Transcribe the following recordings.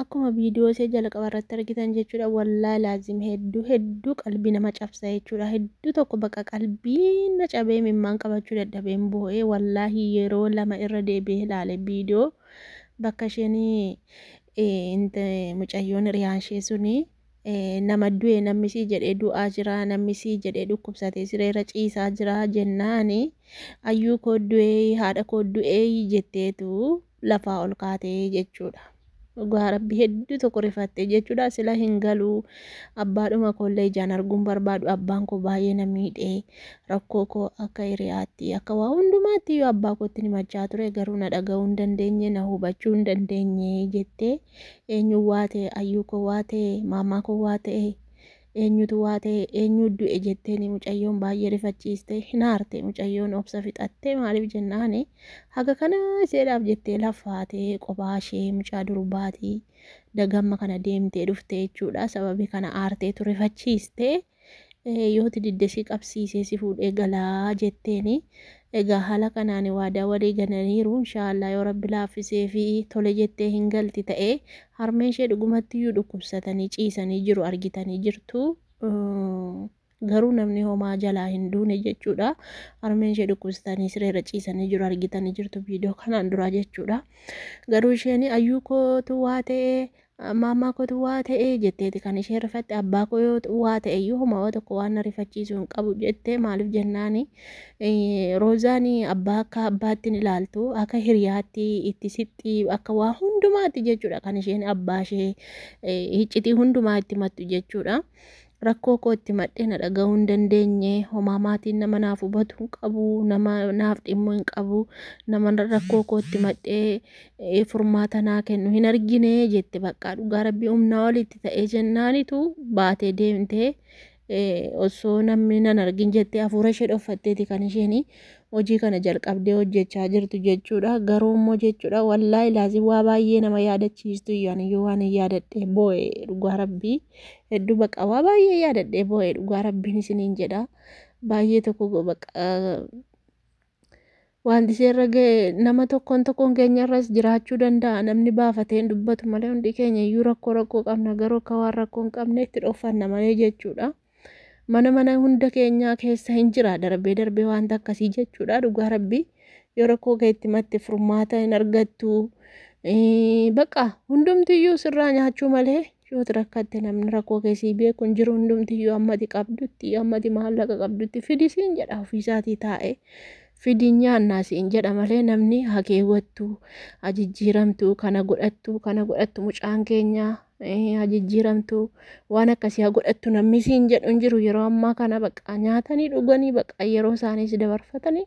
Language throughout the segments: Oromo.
Akkuma video ishee jalqaba irratti argitan jechuudha wallahi laazim hedduu hedduu qalbii nama cabsa jechuudha hedduu tokko baqa qalbii na cabee mimmaan qabachuu dadhabeen boo'ee wallahi yeroo lama irra deebi'ee ilaale video bakka isheen mucayyoon hiriyaan ishee suni nama du'e namni sii jedhee du'aa jira namni sii jedhee dhukkubsatee sireera ciisaa jira jennaani ayyuu koo du'ee haadha koo du'ee jetteetu lafaa ol kaate jechuudha. Dhugaa rabbi hedduu tokko rifatte jechuudha sila hin galuu abbaadhuma koollee ijaan arguun barbaadu abbaan koo baay'ee na miidhee rakkoo koo akka hiriyaatti akka waa hundumaatti yoo abbaa kootti himachaa ture garuu na dhaga'uu hin dandeenye na hubachuu hin dandeenye jettee eenyuun waa ta'e ayyuu koo waa ta'e maamaa koo waa ta'e Eenyutu waa ta'e eenyuu du'e jetteeni mucayyoon baay'ee rifachiiste hin aarte mucayyoon obsa fixatte maaliif jennaan haga kana iseedhaaf jettee laffaatee qophaa ishee mucaa durbaatii dagamma kana deemtee dhufte jechuudha sababii kana aarteetu rifachiiste yooti didde si qabsiisee si fuudhee galaa jetteeni Egaa haala kanaan waadaa walii galaniiru. Inshaa Allaah yoo Rabbi laaffisee fi tole jettee hin galti ta'e harmeen ishee dhugumatti iyyuu dhukkubsatanii ciisanii jiru argitanii jirtu. Garuu namni homaa jalaa hin duune jechuudha. Harmeen ishee dhukkubsatanii sireerra ciisanii jiru argitanii jirtu viidiyoo kanaan duraa jechuudha. Garuu isheen ayyuu kootu waa ta'e Maammaa kootu waa ta'e jetteeti kan isheen rifatte abbaa koo yoo waa ta'e iyyuu homaa waa tokko waan na rifachiisu hin qabu jette maaliif jennaani roozaan abbaa akka abbaatti ni ilaaltu akka hiriyaatti itti sitti akka waa hundumaatti jechuudha kan isheen abbaa ishee hiccitii hundumaa itti mattu jechuudha. Rakkoo koo itti himadhee na dhagahuu hin dandeenye. Homaa maatiin nama naaf hubatu hin qabu. Nama naaf dhimmu hin qabu. Nama rakkoo koo itti himadhee eh, furmaata naa kennu hin argine jette baqqaa dhugaa rabbii humnaa olitti ta'ee jennaanitu baatee deemtee eh, osoo namni nan argin jettee hafuura ishee dhoffatteeti kan isheen hojii kana jalqabdee hojjechaa jirtu jechuudha. Garuu immoo jechuudha wallaahi laazim waa baay'ee nama yaadachiistu iyyuu ani iyyuu waan hin yaadadhe boo'e dhugaa rabbii. Hedduu baqa waa baay'ee yaadadhee boo'ee dhugaa rabbiin isiniin jedha. Baay'ee tokko go- baqa eh, wanti isheerra ga'e nama tokkoon tokkoon keenyarras jiraachuu danda'a namni baafatee hin dubbatu malee hundi keenya iyyuu rakkoo rakkoo qabna garuu akka waan rakkoo hin qabne itti dhoofanna malee jechuudha. Mana mana hunda keenyaa keessa hin jira darbee darbee wanta akkasii jechuudha dhugaa rabbii yoo rakkoo kee itti matte furmaata hin argattu. Eh, Baqa hundumtiyyuu sirraa nyaachuu malee Yoo ati rakkatte namni rakkoo kee sii beeku hin jiru hundumtiyyuu amma ati qabdutti amma ati maallaqa qabdutti fidi siin jedha ofiisaatii taa'ee fidi nyaannaa siin jedha malee namni haa keewwattu haa jijjiiramtu kana godhattu kana godhattu mucaan keenya eh, haa jijjiiramtu waan akkasii haa godhattu namni siin jedhu hin jiru yeroo ammaa kana baqa nyaatanii dhuganii baqa yeroo isaaniis dabarfatanii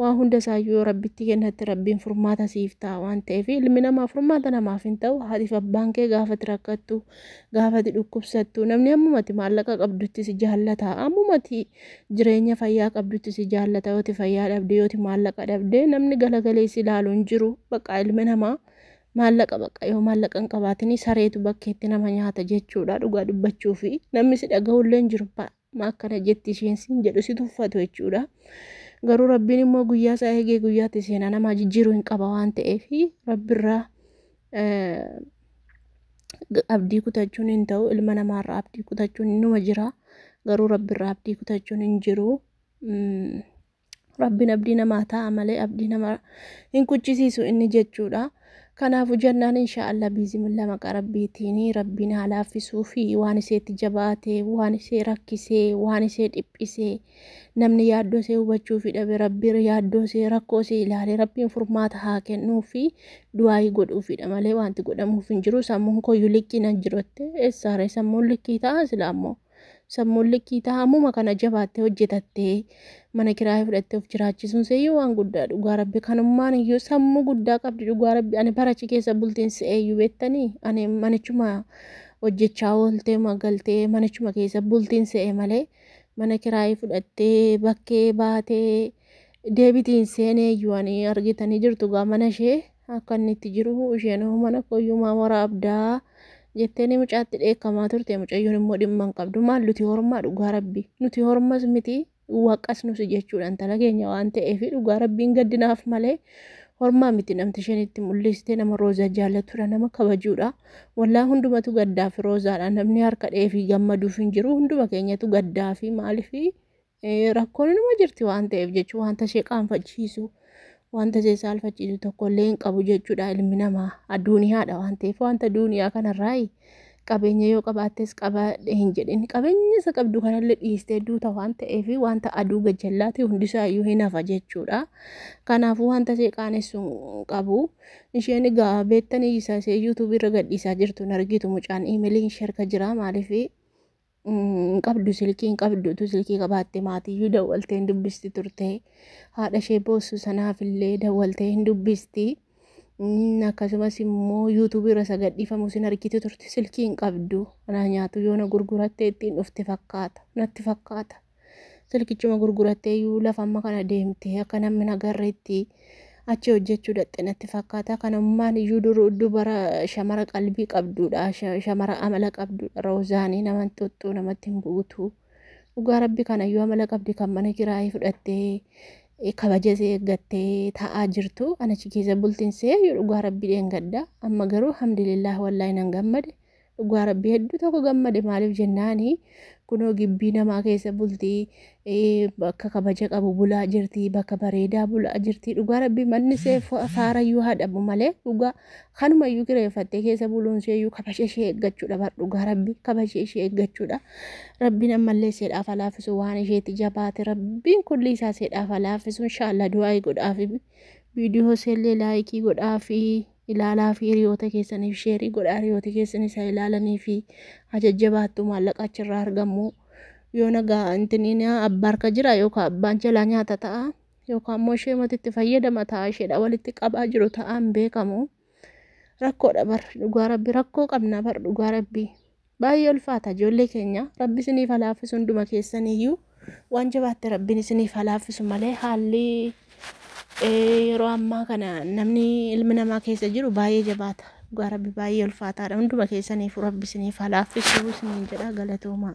Waan hunda isaayyuu yoo rabbitti kennatte rabbiin furmaata siif ta'a waan ta'eef ilmi namaa furmaata namaaf hin ta'u haatiif abbaan kee gaafati rakkattu gaafati dhukkubsattu namni ammumati maallaqa qabdutti si jaallata ammumati jireenya fayyaa qabdutti si jaallata yooti fayyaa dhabde yooti maallaqa dhabde namni galagalee si ilaalu hin jiru bakka ilmi namaa maallaqa bakka yoo maallaqa hin qabaatini sareetu bakkeetti nama nyaata jechuudha dhugaa dubbachuufi namni si dhaga'ullee hin jiru ma akkana jetti isheen siin jedhu si tuffatu jechuudha. Garuu rabbiin immoo guyyaa isaa eegee guyyaatti seenaa namaa jijjiiruu hin qaba waan ta'eef rabbirraa abdii kutachuun hin ta'u ilma namaarraa abdii kutachuun numa jira garuu rabbirraa abdii kutachuun hin jiru. Rabbiin abdii namaa taa'a malee abdii nama hin kuchisiisu inni jechuudha. Kanaafu jennaan insha Allah biizimillah maqaa rabbiitiin rabbiin haa laaffisuu fi waan iseetti jabaate waan isee rakkisee waan isee dhiphisee namni yaaddoo isee hubachuu fi dhabe rabbiin yaaddoo isee rakkoo isee ilaalee rabbiin furmaata haa kennuu fi du'aayii godhuufidha malee wanti godhamuuf hin jiru sammuun koyyuu likkii nan jirotte eessaare sammuun likkii ta'a silaa ammoo. Sammuun likkii ta'a ammuma kana jabaattee hojjetattee mana kiraayee fudhattee of jiraachisuun seeyyuu waan guddaa dhugaa rabbi kanummaan iyyuu sammuu guddaa qabdi dhugaa rabbi ani barachi keessa bultiin seeyyuu beettanii ani manichuma hojjechaa ooltee magaltee manichuma keessa bultiin se'e malee mana kiraayee fudhattee bakkee baatee deebitiin seenee iyyuu ani argitanii jirtu gaa mana ishee Akka inni itti jiru isheen hoo mana kooyyuu maa waraabdaa jetteeni mucaatti dheekkamaa turte mucayyoon immoo dhimma hin qabdu maal nuti hormaa dhugaa rabbi nuti hormas miti waqas nusi jechuudha intala keenya waan ta'eef dhugaa rabbiin gaddinaaf malee hormaa miti namti isheen itti mul'iste nama roozaa jaallatudha nama kabajuudha wallaa hundumatu gaddaa fi roozaadha namni harka dheefi gammaduuf hin jiru hunduma keenyatu gaddaa fi maaliif Rakkoon inuma jirti waan ta'eef jechuun wanta ishee qaanfachiisu wanta ishee saalfachiisu tokko illee hin qabu jechuudha ilmi namaa adduniyaadha waan ta'eef wanta duniyaa kanarraa qabeenya yoo qabaattes qabaadhe hin jedhin qabeenya isa qabdu kanallee dhiistee duuta waan ta'eef wanta aduu gajjallaati hundisaayyuu hin hafa jechuudha kanaafuu wanta ishee qaanessu hin qabu isheen egaa beektanii isa ishee yuutuubii irra gadhiisaa jirtu hin argitu mucaan iimeliin sherka jira maaliif hin qabdu silkii hin qabdu utuu silkii qabaatte maatiyyuu dawwaltee hin dubbisti turte haadha ishee boossu sanaafillee dawwaltee hin dubbisti Mm, akkasumas immoo yuutuubii irra isa gadhiifamu sin argiti turte silkii hin qabdu anaa nyaatu yoona gurgurattee ittiin dhufte fakkaata natti fakkaata Silkichuma gurguratteeyyuu lafa amma kana deemte akka namni hin agarreetti achi hojjechuu dhaqxe natti fakkaata. Kan ammaan iyyuu duruu dubara shamara qalbii qabduudha. sha- Shamara amala qabduudha. Roozaanii nama hin xuxxuu namatti hin buutu. Dhugaa rabbi kana iyyuu amala qabdi kan mana kiraayii fudhattee eh, kabaja isee eeggattee taa'aa jirtu. An achi keessa bultiin see iyyuu dhugaa rabbi dheengadda. Amma garuu alhamdulillah wallaahi nan gammade. Dhugaa rabbii hedduu tokko gammade maaliif jennaani kunoo gibbii namaa keessa bultii ee, bakka kabaja qabu bulaa jirtii bakka bareedaa bulaa jirtii dhugaa rabbii manni see fa- faarayyuu haa dhabu malee dhugaa kanumayyuu kireeffattee keessa buluun seeyyuu kabaja ishee eeggachuudha bar dhugaa rabbii kabaja ishee eeggachuudha rabbiin ammallee seedhaaf haa laaffisu waan isheetti jabaate rabbiin kulli isaa seedhaaf haa laaffisu inshaallah du'aa godhaafi viidiyoo seellee laayikii godhaafi. ilaalaa fi hiriyoota keessaniif sheerii godhaa hiriyooti keessaniis haa ilaalanii fi haa jajjabaattu maallaqa achirraa argamu yoo nagaa intiniin abba harka jira yookaan abbaan jalaa nyaata ta'a yookaan immoo ishee matitti fayyadama ta'a isheedha walitti qabaa jiru ta'aan beekamu rakkoodha bar dhugaa rabbi rakkoo qabna bar dhugaa rabbi Baay'ee ulfaata ijoollee keenya rabbi isiniif haa laaffisu hunduma keessaniyyuu waan jabaatte rabbiin isiniif haa laaffisu malee haalli eh, yeroo ammaa kana namni ilmi namaa keessa jiru baay'ee jabaata dhugaa rabbi baay'ee ulfaataadha hunduma keessaniifu rabbi isiniif haa laaffisu isiniin jedha galatoomaa.